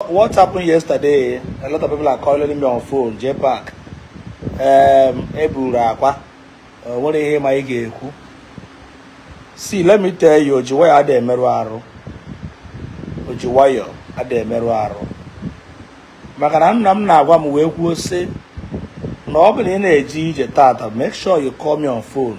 What happened yesterday? A lot of people are calling me on phone, JPAC. Um, eburu Akwa. O nwere ihe ma ị ga-ekwu. See, let me tell you, o ji wayọọ ada emerụ arụ. O ji wayọọ ada emerụ arụ. Maka na nna m na-agwa m wee kwuo sị na ọ bụ na ị na-eje ije tata make sure you call me on phone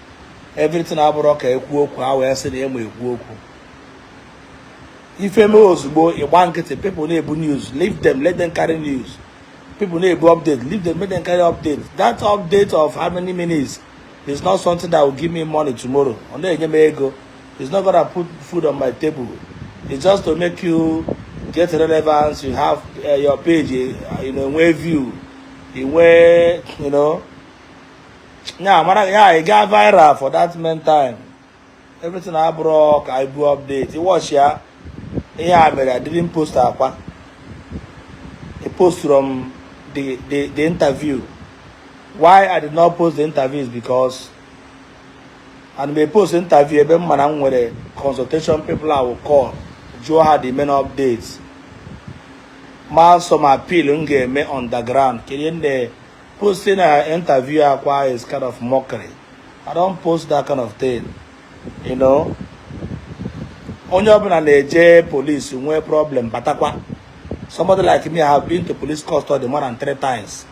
everything abụrọ ka ekwu okwu a wee sị na ema ekwu okwu ife mee ozugbo ị gba nkịtị people na-ebu news leave them let them carry news people na-ebu update leave them let them carry update that update of how many minutes is not something that will give me money tomorrow ọ na-enye m ego it's not gonna put food on my table it's just to make you get relevance you have uh, your page uh, you know nwee view you nwee you know ya mara ya ị gaa viral for that meantime everything abụrọ ka i bu update ị watch ya ihe e mere I didn't post Akwa I post from the, the, the interview why I did not post the interview is because ada m e-post interview ebe m ma na m nwere consultation people I will call jụọ ha the main updates ma some appeal m ga-eme on the ground kedu ndị Posting an interview Akwa is kind of mockery. I don't post that kind of thing. You know? Onye ọbụla na-eje police nwee problem batakwa. Somebody like me, I have been to police custody more than three times.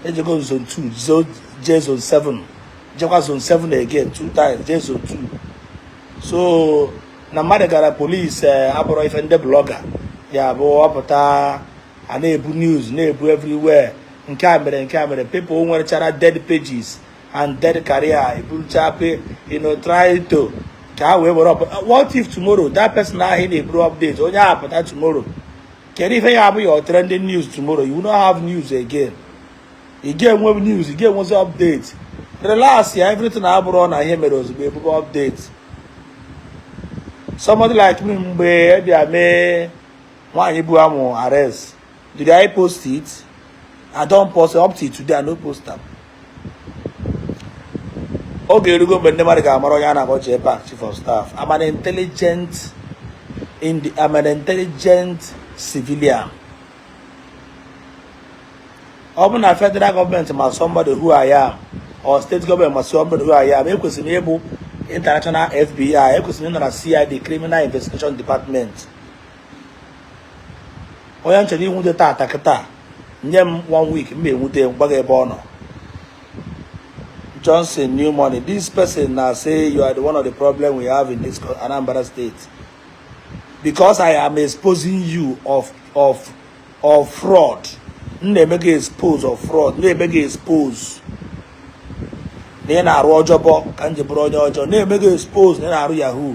Ejego zone 2, zone, jee zone 7. Jekwa zone 7 again, two times, jee zone 2. So, na mmadụ gara polisi eh, abụrọ ife ndị blọga ya-abụ ọ pụta a na-ebu news na-ebu everywhere nke a mere nke a mere people nwerechara dead pages and dead career eburucha pe you know try to ka ha wee were ọpụta what if tomorrow that person ahụ ị na-eburu update onye ahụ pụta tomorrow kedu ife ya-abụ your trending news tomorrow you no have news again ị ga-enwe news ị ga-enwezi update relax ya everything abụrọ na ihe mere ozugbo e bube update somebody like me mgbe a bịa mee nwaanyị bu amụ arrest Did I post it? I don't post it up till today. I no post am. oge erugo mgbe ndị mmadụ ga-amara onye a na-akpọ JPAC chief of staff I'm an intelligent in the, I'm an intelligent civilian ọ bụ na federal gọọmenti ma somebody who I am or state gọọmenti ma somebody who I am ekwesịrị m ịbụ international FBI ekwesịrị m ịnọ na CID criminal investigation department onye m chọrọ inwute taata kịta nye m one week m enwute gbaga ebe ọ nọ Johnson new money this person na say you are the one of the problem we have in this Anambra state because I am exposing you of of of fraud m na-eme gị expose of fraud na-eme gị expose na ị na-arụ ọjọbọ ka m ji bụrụ onye ọjọọ na-eme gị expose na ị na-arụ yahoo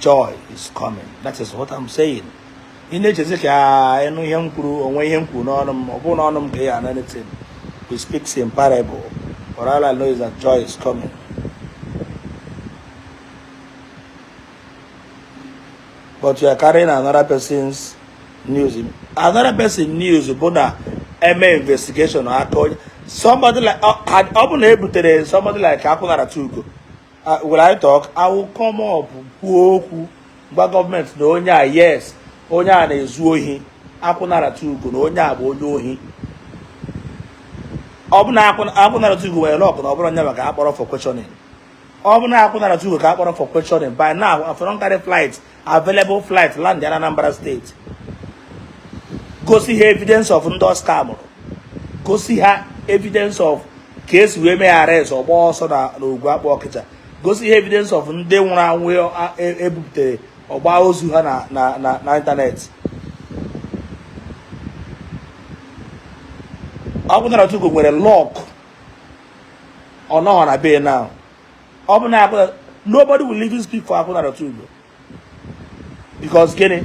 joy is coming that is what I'm saying ị na-echezi ka ị nụ ihe m kwuru o nwe ihe m kwuru n'ọnụ m ọ bụrụ n'ọnụ m ka ị ana anything we speak in parable but all I know is that joy is coming but you are carrying another person's news another person news bụ na-eme investigation aka onye somebody like ọ bụ na e butere somebody like akwụnarata ugo Uh, will I talk? I will come up kwuo okwu gwa government na onye a yes onye a na-ezu ohi akwụnarata ugo na onye a bụ onye ohi ọ bụ na akwụnarata ugo nwere luck na ọ bụrụ nya maka a kpọrọ for questioning ọ bụ na akwụnarata ugo ka a kpọrọ for questioning by now I for don carry flight available flight land ya na Anambra state gosi ha evidence of ndị ọ scamụrụ gosi ha evidence of ka e si wee mee arrest ọ gbaa ọsọ na Ogwugwu Akpụ Ọkịja gosi ha evidence of ndị nwụrụ anwụ e buputere ọ gbaa ozu ha na ịntanetị akwụnarata ugo nwere luck ọ nọghọ na be na ọ bụ na abụla nobody will even speak for akwụnarata ugo because gịnị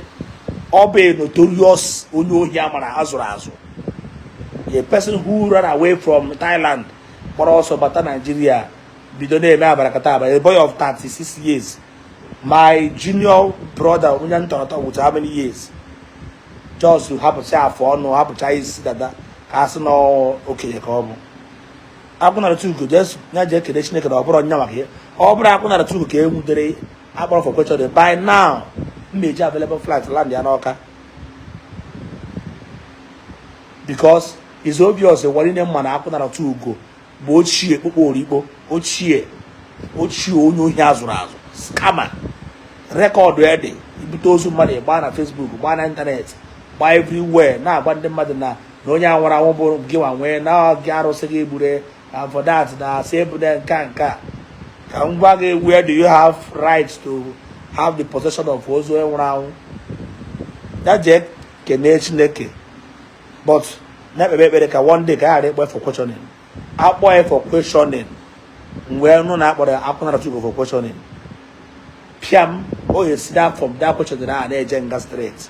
ọ bụ a notorious onye ohi a mara a zụrụ azụ a person who ran away from Thailand gbara ọsọ bata Nigeria bido na-eme abarakata aba a boy of 36 years my junior brother onye m tọrọ atọ with how many years just hapụcha afụ ọnụ hapụcha isi dada ka a sị na okenye ka ọ bụ akwụnarata ugo ya jee kelee chineke na ọ bụrụ nya maka ya ọ bụrụ akwụnarata ugo ka e nwudere a kpọrọ for questioning by now m na-eji available flight land ya n'Ọka because it's obvious ụwa nine ma na akwụnarata ugo bụ ochie kpụkpọ orikpo ochie ochie onye ohi a zụrụ azụ scammer recorded i bute ozu mmadụ gbaa na Facebook gbaa na ịntanetị gbaa everywhere na-agwa ndị mmadụ na na onye a nwụrụ anwụ bụ gị nwa nwee na gị arụsị gị gbure avodat na asị ebune nka nka ka m gwa gị where do you have right to have the possession of ozu onye nwụrụ anwụ ya jee kenee chineke but na-ekpebe ekpere ka one day ka a ghara ịkpọ for questioning a kpọọ ya for questioning mgbe ị nụ na a kpọrọ ya akwụnarata ugo for questioning piam o yes that from that questioning a na-eje nga straight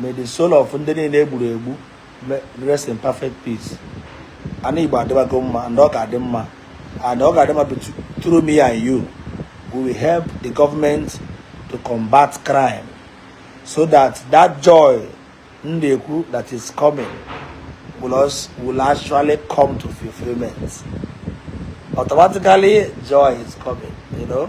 May the soul of ndị niile egburu egbu rest in perfect peace. Ana Igbo adịbago mma and ọ ga-adị mma and ọ ga-adị mma through me and you. We will help the government to combat crime so that that joy ndị a kwuru that is coming will, also, will actually come to fulfillment. Automatically joy is coming, you know.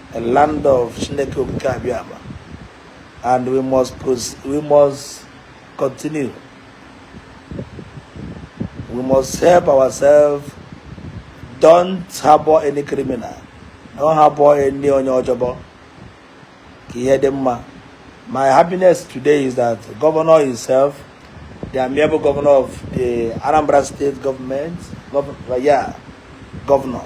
a land of Chineke Okike Abịama and we must we must continue we must help ourselves don't harbor any criminal don't harbor any onye ọjọbọ ka ihe dị mma my happiness today is that governor himself the amiable governor of the Anambra state government governor, yeah, governor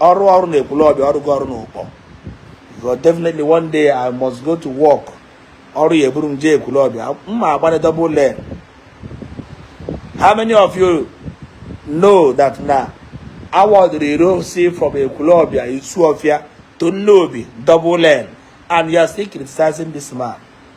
ọ rụ ọrụ na ekwulọbịa ọ rụghị ọrụ na ụkpọ but definitely one day i must go to work ọrụ ya eburu m jee ekwulọbịa mụ agbanye double lane how many of you know that na awardụrụ road si from ekwulọbịa isuofia to nnobi double lane and you are still criticizing this man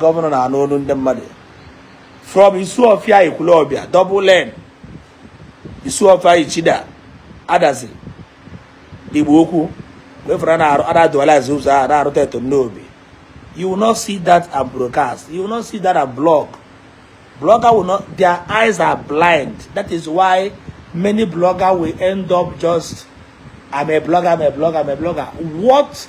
gọvanọ na-anụ olu ndị mmadụ from Isuofia Ekwulọbịa double lane Isuofia Ichida Adazi Igbo Ukwu everywhere a na-arụ a na-adualize ụzọ a na-arụte to Nnobi you will not see that and broadcast you will not see that and blog blogger will not their eyes are blind that is why many blogger will end up just I'm a blogger, I'm a blogger, I'm a blogger. What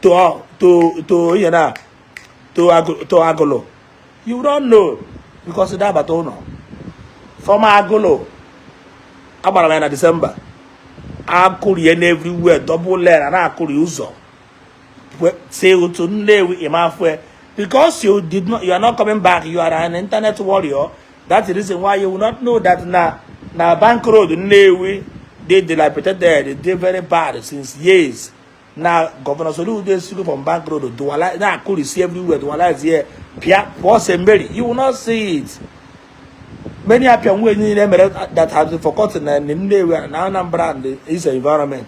to to to ihe na to to agụlụ you don't know because ị da-abata ụnọ from agụlụ agbara m ya na disemba akụrie everywhere double lane a na-akụri ụzọ si otu nnewi ị ma afụ ya because you did not you are not coming back you are an internet warrior that's the reason why you will not know that na na bank road nnewi dey dilapidated dey very bad since years na gọvanọ Soludo esigo from bank road dualize a na-akụrisi everywhere dualizie pịa pụọ St. Mary you will not see it many apịam way niile mere that has been forgotten na Nnewi na Anambra and its environment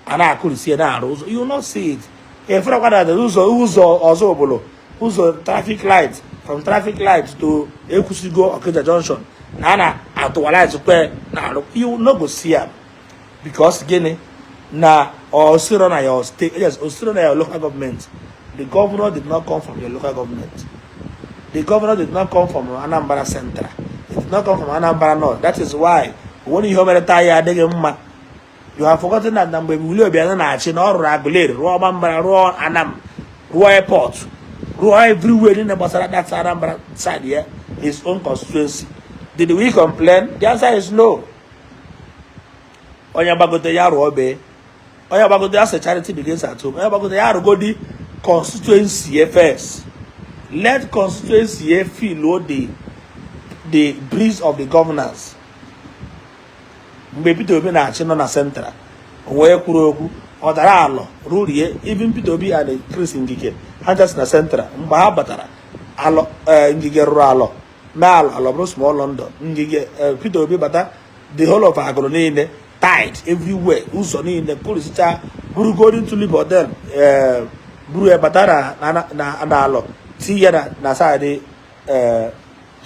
a na-akụrisi na-arụ ụzọ you will not see it ị ferekwa na ụzọ ụzọ Ọzụbụlụ ụzọ traffic light from traffic light to Ekwusigo Okija junction na a na-adualizekwa na-arụ you no go see am because gịnị na o sirọ na your state yes o sirọ na your local government the governor did not come from your local government the governor did not come from Anambra Central he did not come from Anambra North that is why o nwerọ ihe o mere taa ya adị gị mma you have forgotten that na mgbe Willie Obiano na-achị na ọ rụrụ Aguleri rụọ Ọmambala rụọ Anam rụọ airport rụọ everywhere niile gbasara that Anambra side ya his own constituency did we complain the answer is no onye gbagote ya rụọ bee onye gbagote ya sị charity begins at home onye gbagote ya arụgodi constituency ya first let constituency ya feel the the breeze of the governance mgbe Peter Obi na-achị nọ na central o nwee kwuru okwu ọ dara Alor rurie even Peter Obi and Chris Ngige ha si na central mgbe ha batara Alor eh, Ngige rụrụ Alor mee Alor Alor bụrụ small London ngige eh, Peter Obi bata the whole of Agulu niile tar everywhere ụzọ niile ọ rụsịcha buru Golden Tulip hotel eh, buru ya bata na Alor tii ya na side eh,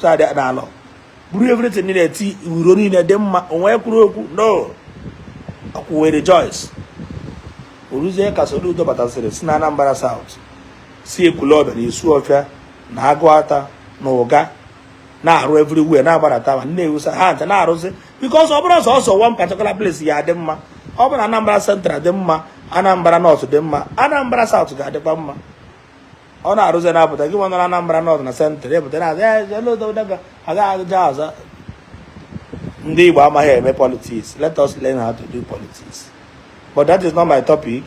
side na Alor buru everything niile tii ihe niile dị mma o nwee kwuru okwu no akwụwe rejoice o ruzie ka Soludo batasịrị si na Anambra South si Ekwulọbịa na Isuọfịa na Aguata na Uga na-arụ everywhere na-agbarata ma na-ewusa ha ncha na-arụzi because ọ bụrọ sọọsọ one particular place ya-adị mma ọ bụrụ na Anambra Central dị mma Anambra North dị mma Anambra South ga-adịkwa mma ọ na-arụzi na-apụta gị nwa nọ na Anambra North na Central ị pụta na-asị ọ gaghị aga ọzọ ndị Igbo amaghị eme politics let us learn how to do politics but that is not my topic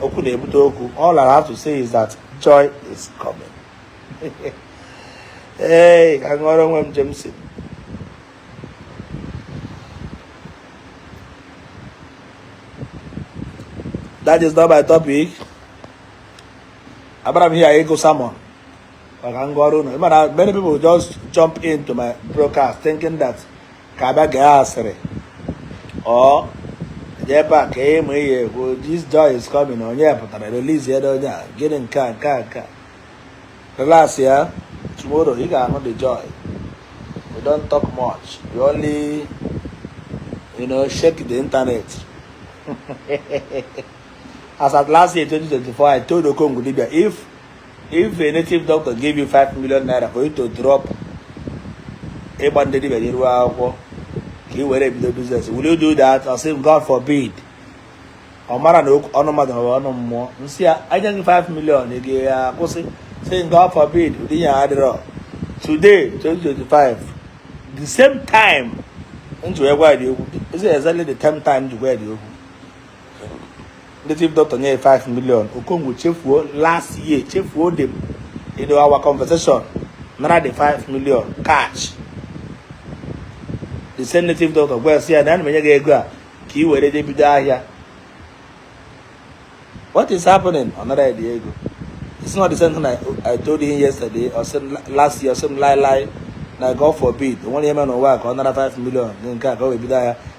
okwu na-ebute okwu all I have to say is that joy is coming ee ka ṅụọrọ onwe m Jameson that is not my topic abịarọ m here ịgụ sermon maka ngwa ọrụ unu mana many people just jump into my broadcast thinking that ka a bịa gee asịrị ọ dị ebe a ka ịmụ ihe ekwu this joy is coming onye pụtara release ya onye a gịnị nke a nke a nke a relax ya tomorrow ị ga-ahụ the joy we don't talk much we only you know shake the internet as at last year 2024 i told Okongwu Dibia if If a native doctor gave you 5 million naira for you to drop ịgba ndị dibia n'iru akwụkwọ ka ị were ebido business will you do that ọ sị God forbid ọ mara na ọnụ mmadụ bụ ọnụ mmụọ m sị ya a nye gị 5 million ị ga-akwụsị sị m God forbid ụdị ya adịrọ today 2025 the same time m ji wee gwa the okwu is exactly the same time m ji wee the okwu native doctor nye 5 million okongwu chefuo last year chefuo the in our conversation nara the 5 million cash the same native doctor gwa sị ya na ana m enye gị ego a ka ị were je bido ahịa what is happening ọ nara gị ego it's not the same thing I, I told him yesterday or same last year or same lie lie na God forbid o nwere ihe mere n'ụwa ka ọ nara 5 million nke a ka o were bido ahịa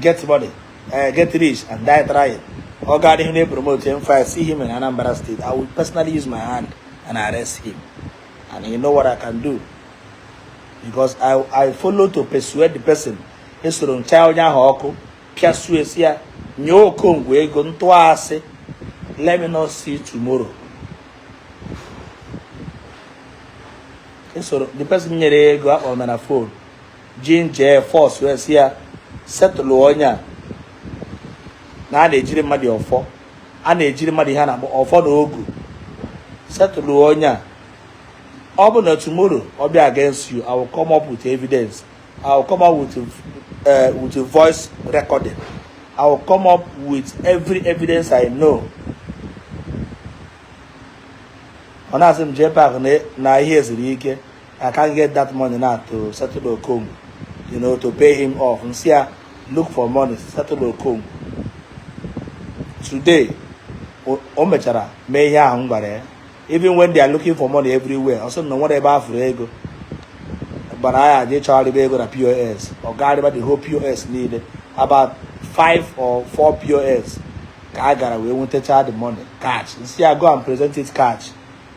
get money uh, get rich and die trying ọ ga adịghị na-epromote him fire see him in Anambra State I will personally use my hand and arrest him and you know what I can do because I, I follow to persuade the person esoro ncha onye ahụ ọkụ pịasuo esi ya nye okongwu ego ntụasị let me not see tomorrow esoro the person nyere ya ego akpọrọ na fon jinje fọs wee sị ya settle onye a na a na-ejiri mmadụ ọfọ a na-ejiri mmadụ ihe a na-akpọ ọfọ na ogu settle onye a ọ bụ na tomorrow ọ bịa against you i will come up with evidence i will come up with uh, with a voice recording i will come up with every evidence i know ọ na-asị m jee park na ihe eziri ike I can't get that money now to settle Okongwu, you know, to pay him off. M sị ya look for money, settle Okongwu. Today, o mechara mee ihe ahụ m gwara ya even when they are looking for money everywhere ọ sị na o nwere ebe a fụrụ ego gwara ya je chọgharịba ego na pos ọ gagharịba the whole pos niile about five or four pos ka a gara wee nwetacha the money cash m sị ya go and present it cash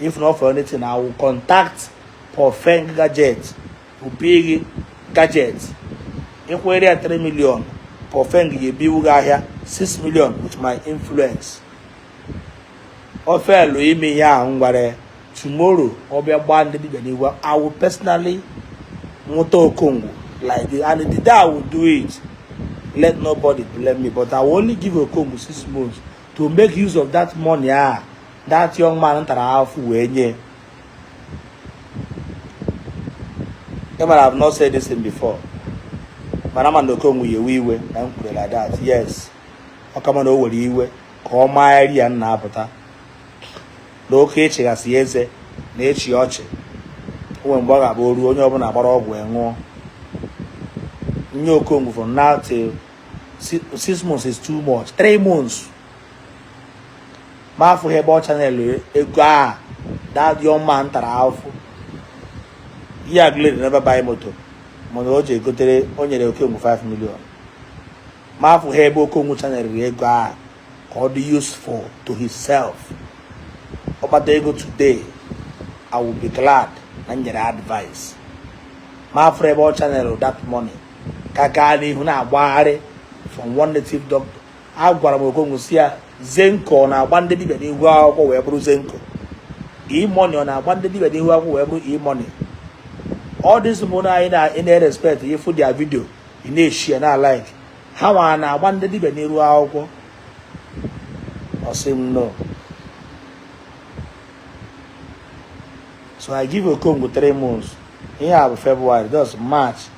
if not for anything i will contact profeng gadget ubiri gadget ị kwụnyere ya 3 million profeng ga-ebiwu gị ahịa 6 million with my influence ọ fail ime ihe ahụ m gwara tomorrow ọ bịa gbaa ndị dibịa n'iwu i will personally nwụta okongwu like this and the day i will do it let nobody blame me but i will only give okongwu six months to make use of that money a that young man tara afụfụ wee nye ị mara i have not said this thing before mana ma na okongwu ya-ewe iwe na m kwuru like that yes ọ ka mma na o were iwe ka ọ maa eri ya nna apụta na oke ịchịghasị eze na-achị ọchị o nwe mgbe ọ ga-abụ oru onye ọbụla gbara ọgwụ enwụọ nye okongwu from now till six months is too much three months ma afụghị ebe ọ channel ego a that young man tara afụfụ ihe agụleri never buy moto mana o ji egotere o nyere okongwu 5 million ma afụghị ebe okongwu channel ego a ka ọ dị useful to himself ọ kpata ego today i will be glad na m nyere advice ma a fụrụ ebe ọ channel that money ka gaa n'ihu na-agbagharị from one native doctor agwara m okongwu sị ya zenco ọ na-agba ndị dibia n'ihu akwụkwọ wee bụrụ zenco e-money ọ na-agba ndị dibia n'ihu akwụkwọ wee bụrụ e-money all these mmadụ anyị na-erespect ị fụ their video ị na-eshie na like ha nwa na-agba ndị dibia n'iru akwụkwọ ọ sị m no so i give okongwu three months ihe a bụ february thus march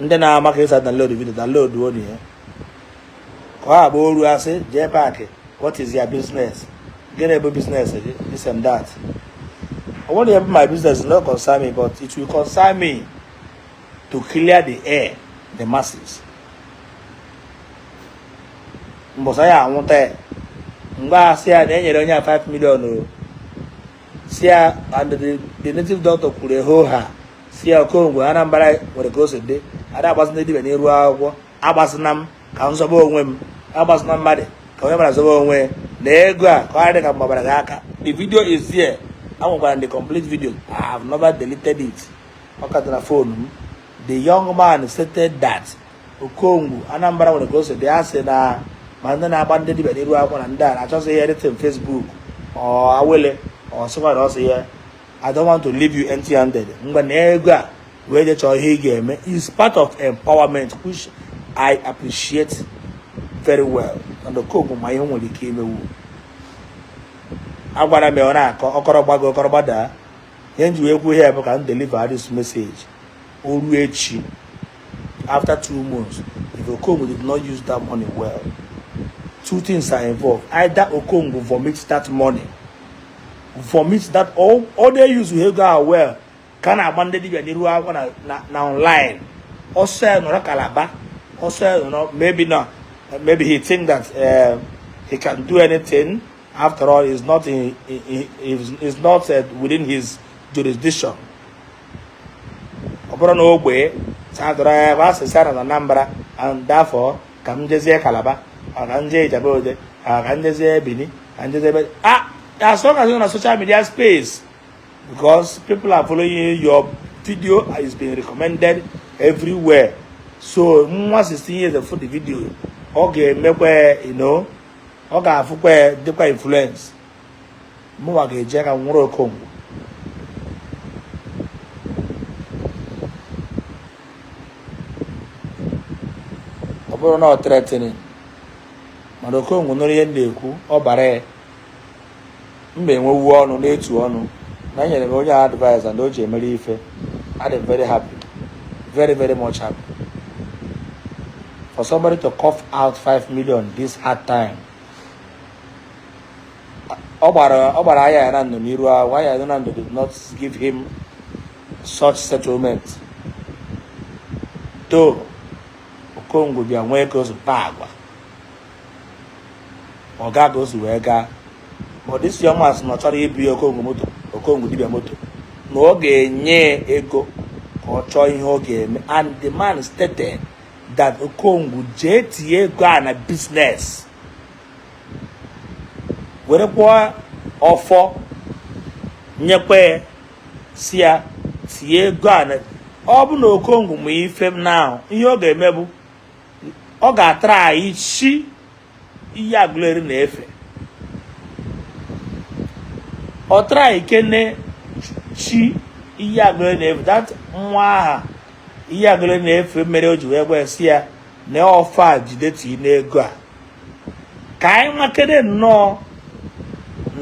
ndị na-ama ka e si download video download onu ya ka ọ agba oru asị jee paakị what is your business gịnị bụ business gị this and that I want to have my business not concern me but it will concern me to clear the air the masses mbọsị a ya anwụta ya mgbe a sị ya na e nyere onye a 5 million ọ sị ya na the native doctor kwuru hoo haa sị ya okongwu anambra nwere ka o si dị a da agbazị ndị dibịa n'iru akwụkwọ agbazịna m ka m zọba onwe m agbazịna mmadụ ka onye mara zọba onwe ya na ego a ka ọ dị ka m gbabara gị aka the video is here enwekwara the complete video i have never deleted it ọ ka dị na phone m the young man stated that okongwu anambra nwere ka o si dị ya sị na ma ndị na-agba ndị dibịa n'iru akwụkwọ na ndị a na-achọsị ihe dịtịn facebook ọ awele ọ sịkwara ọ sị ya I don't want to leave you empty handed ngwa na ego a wee je chọọ ihe ị ga-eme is part of empowerment which I appreciate very well na dokobu ma ihe nwere ike imewu agwara m ya ọ na-akọ ọ kọrọ gbago ọ kọrọ gbadaa ihe m ji wee kwuo ihe bụ ka m deliver this message o ruo echi after two months if okongwu did not use that money well two things are involved either okongwu vomit that money vomit that all all they use we go ah, well ka na-agba ndị dibia n'iru akwụkwọ na na na online ọ sọ ya nọrọ Calabar ọ sọ ya nọrọ maybe na maybe he think that uh, he can do anything after all is not in, in, in is not uh, within his jurisdiction ọ bụrọ n'ogbe sadụrụ ya bụ asịsị na Anambra and therefore ka m jezie Calabar ka m jee Ijebu Ode ka m jezie Bini ka m jezie ebe ah as long as you're on social media space because people are following your video is being recommended everywhere so nwa 16 years afụ the video ọ ga-emekwa ino ọ ga-afụkwa dịkwa influence mụnwa ga-eje ka nwụrụ okongwu ọ bụrụ na ọ threatening mana okongwu nụrụ ihe m na-ekwu ọ bara ya mma enwewu ọnụ na-etu ọnụ na enyere m onye advice na o ji emere ife adị m very happy very very much happy for somebody to cough out 5 million this hard time ọ gbara ọ gbara aya ya na ndụ n'iru ahụ aya ya na ndụ did not give him such settlement to okongwu bịa nwee ka o si kpaa agwa ọ gaa ka o si wee gaa but this young man sị na ọ chọrọ ibu ya okongwu moto okongwu dibịa moto na ọ ga-enye ya ego ka ọ chọọ ihe ọ ga-eme and the man stated that okongwu jee tinye ego a na business werekwa ọfọ nyekwa sị ya tinye ego a ọ bụ na okongwu ma ife m na ahụ ihe ọ ga-eme bụ ọ ga-atara anyị chi iyi agụleri na-efe ọ tara anyị kene chi iyi agụleri na-efe that nwa aha iyi agụleri na-efe mere o ji wee gwa sị ya na ọfọ a jide tii n'ego a ka anyị makene nnọọ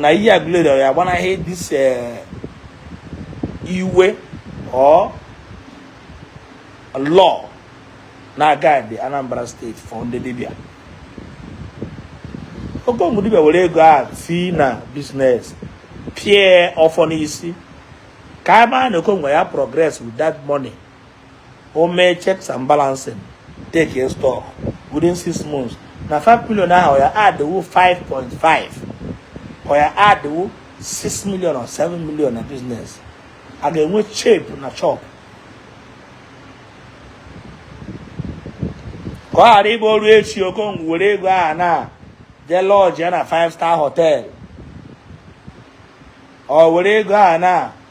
na iyi agụleri ya agbanahị this eh, iwu or law na-aga dị Anambra state for ndị dibịa okongwu dibịa were ego a tii na business pịa ọfọ n'isi ka a maa na okongwu ya progress with that money o mee checks and balancing taking stock within six months na 5 million ahụ ọ ya adịwo 5.5 ọ ya adịwo 6 million or 7 million na business a ga-enwe shape na chop ka ọ ghara ịbụ o ruo echi okongwu were ego aha na jee lodge na 5 star hotel ọ were ego aha na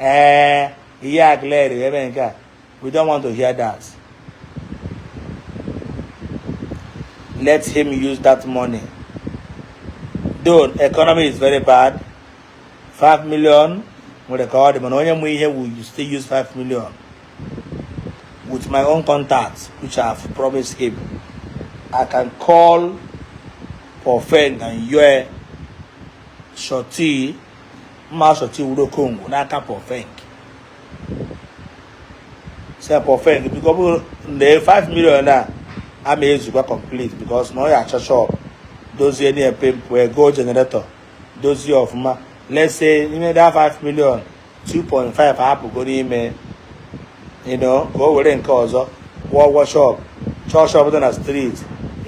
ee eh, ihe a clear ebe nke a we don't want to hear that let him use that money though economy is very bad 5 million nwere ka ọ dị mana onye mụ ihe will still use 5 million with my own contacts which I have promised him I can call Pofeng and Yue Shorty mma asọchi wuru okongwu n'aka pọfek se pọfek biko ọ bụrụ na 5 million a ama ezukwa complete because na ọ ya achọ shop dozie na epempe goo generator dozie ọfụma let's say n'ime that 5 million 2.5 apụgo n'ime you know ka o were nke ọzọ kwụọ ụgwọ shop chọọ shop dị na street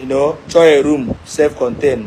you know chọọ a room self contained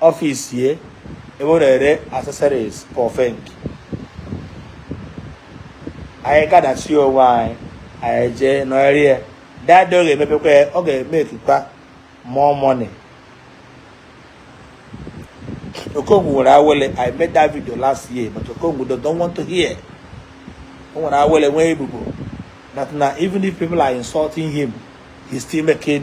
office ya ebe ọ na-ere accessories for fink anyị kadasi onwe anyị anyị jee nọrị ya dada ọ ga-emepekwa ya ọ ga-emekikwa more money okongwu nwere awele i made that video last year but okongwu don't want to hear o nwere awele nwee ebubo that na even if people are insulting him he's still making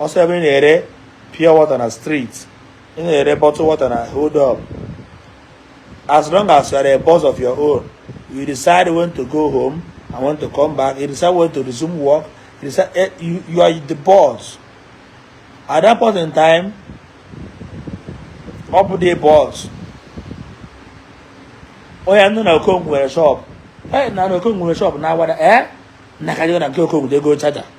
ọ sọ ebe ị na-ere pure water na street ị na-ere bottle water na hold up as long as you are a boss of your own you decide when to go home and when to come back you decide when to resume work you decide eh, you, you are the boss at that point in time ọ bụ the boss onye nọ na okongwu nwere shop hey na okongwu nwere shop na awada eh na ka na nke okongwu ego charger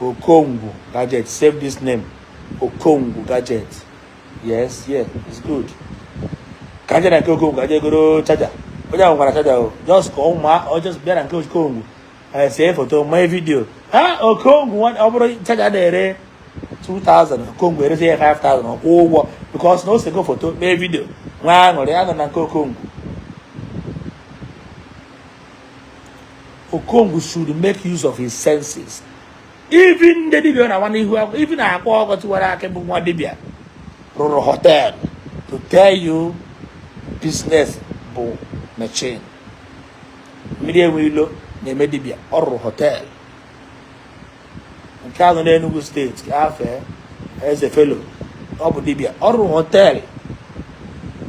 Okongwu gadget save this name Okongwu gadget yes yeah it's good ka aja na nke Okongwu ka aja egoro charger onye ahụ goro charger ọ just ka ụmụ ọ just bịa na nke Okongwu eh, see foto mee vidio ha Okongwu ọ bụrụ charger a na-ere 2000 Okongwu erezi ya 5000 ọ kwụọ ụgwọ because na o sego foto mee vidio nwee aṅụrị ọ nọ na nke Okongwu Okongwu should make use of his senses even ndị dibia na nwana ihu akwụkwọ even akwa ọkụkọ tiwara akị bụ nwa dibia rụrụ hotel to tell you business bụ machine mmiri enwe ilo na-eme dibia ọ rụrụ hotel nke ahụ n'Enugu State ka afe eze felo ọ bụ dibia ọ rụrụ hotel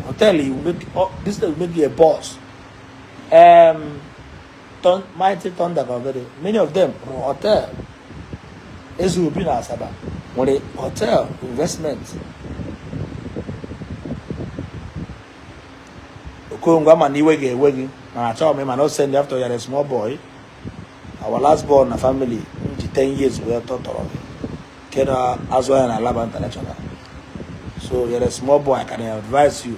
to tell you make business make you a boss Um, Thun- Mighty Thunder Bavere, many of them rụrụ hotel. Eze Obi na Asaba nwere hotel investment. Okongwu ama m na iwe ga-ewe gị mana achọghị m ịma, I no send after you are a small boy. Our last born na family m ji 10 years wee tọọ tọrọ gị nke na-azụ ahịa na Alaba International. So you're a small boy, I can advise you.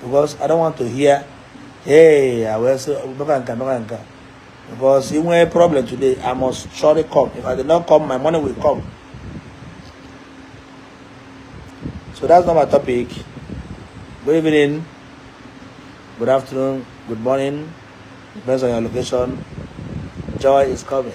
because I don't want to hear hey I will say meka nka meka nka because if we problem today I must surely come if I did not come my money will come so that's not my topic good evening good afternoon good morning depends on your location joy is coming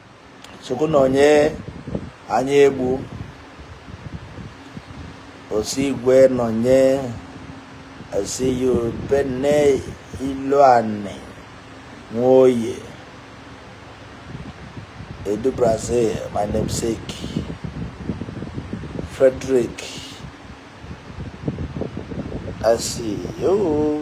chukwu nọnye anyị egbu osigwe nọnye esi ya benne ilu anị nwoye edu brazil my namesake frederick asi yoo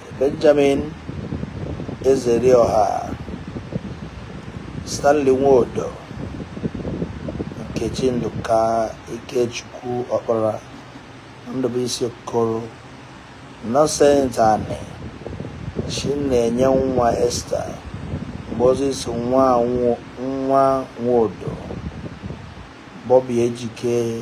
Benjamin Ezerioha Stanley Nwodo Nkechi Ndụka Ikechukwu Ọkpara Ndụbụisi Okoro Innocent Ani Chinenye Nwa Esther Moses Nwa Nwa Nwodo Bobby Ejike